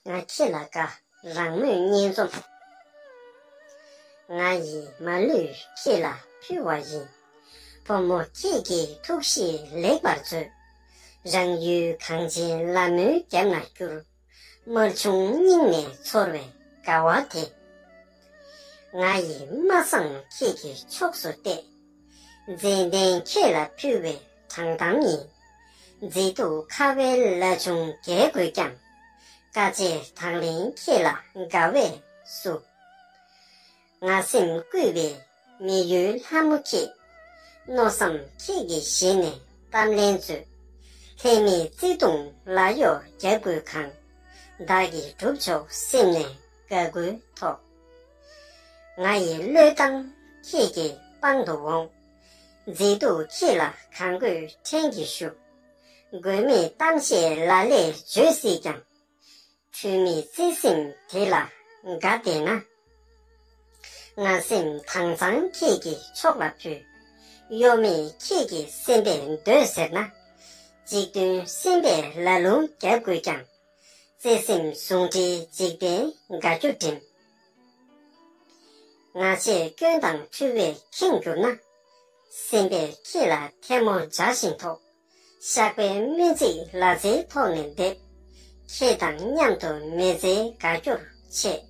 ང་ཁྱེད་ལ་དགའ་རང་མོས་སྙན་རྩོམ། ང་ཡིས་མ་ལུས་ཁྱེད་ལ་ཕུལ་བ་ཡིན། བུ་མོ་ཁྱེད་ཀྱི་ཐུགས་བཞེད་ལེགས་པར་མཛོད། རང་ཡུལ་གངས་ཅན་ལ་མོའི་རྒྱབ་ན་བསྐྱུར། དམར་ཆུང་སྙིང་ནས་ཚོར་བའི་དགའ་བ་དེ། ང་ཡིས་མ་བསམ་ཁྱེད་ཀྱི་ཕྱོགས་སུ་གཏད། མཛེས་ལྡན་ཁྱེད་ལ་ཕུལ་བའི་དྲང་གཏམ་ཡིན། མཛེས་སྡུག་ཁ་བའི་བླ་ཆུང་རྒས་དགོས་ཀྱང། དཀའ་སྤྱད་དང་ལེན་ཁྱེད་ལ་དགའ་བས་བསུ། ང་སེམས་བསྐུལ་བའི་མི་ཡུལ་ལྷ་མོ་ཁྱེད། མནོ་བསམ་ཁྱེད་ཀྱི་ཞལ་ནས་གཏམ་ལན་མཛོད། ལྷད་མེད་བརྩེ་གདུང་ལ་གཡོག་རྒྱག་དགོས་གང། བདག་གིས་བསྒྲུབ་ཆོག་སེམས་ནས་དགའ་དགུའི་ཐོག། ང་ཡི་བློས་བཏང་ཁྱེད་ཀྱི་པང་དུ་འོང། མཛེས་སྡུག་ཁྱི་ལ་གང་དགོས་ཕྲན་གྱིས་བཞུགས། དགོས་མེད་གཏམ་བཤད་ལ་ལས་བརྗོད་སྲིད་ཀྱང། འཁྲུལ་མེད་བརྩེ་སེམས་དེ་ལ་དགའ་བདེ་ན། ང་སེམས་དྭངས་གཙང་ཁྱེད་ཀྱི་ཕྱོགས་ལ་ཕུལ། གཡོ་མེད་ཁྱེད་ཀྱི་སེམས་པས་འདོད་ཟེར་ན། གཅིག་མཐུན་སེམས་པས་ལ་ལུང་བརྒྱ་བསྐུལ་ཀྱང། བརྩེ་སེམས་ཟུང་འབྲེལ་འཇིག་རྟེན་དགའ་སྐྱོ་འགྲིམས། ང་ཆེས་སྐྱོན་དང་འཁྲུལ་བས་ཁེངས་གྱུར་ན། སེམས་པས་ཁྱེད་ལ་ཐལ་མོ་སྦྱར་བཞིན་དོགས། བཤགས་པའི་སྨོན་ཚིག་ལ་རྩེའི་ཐོག་ནས་འདེབས། ཁྱེད་དང་མཉམ་དུ་མེ་བཙའི་དགའ་སྐྱོར་ཆེ།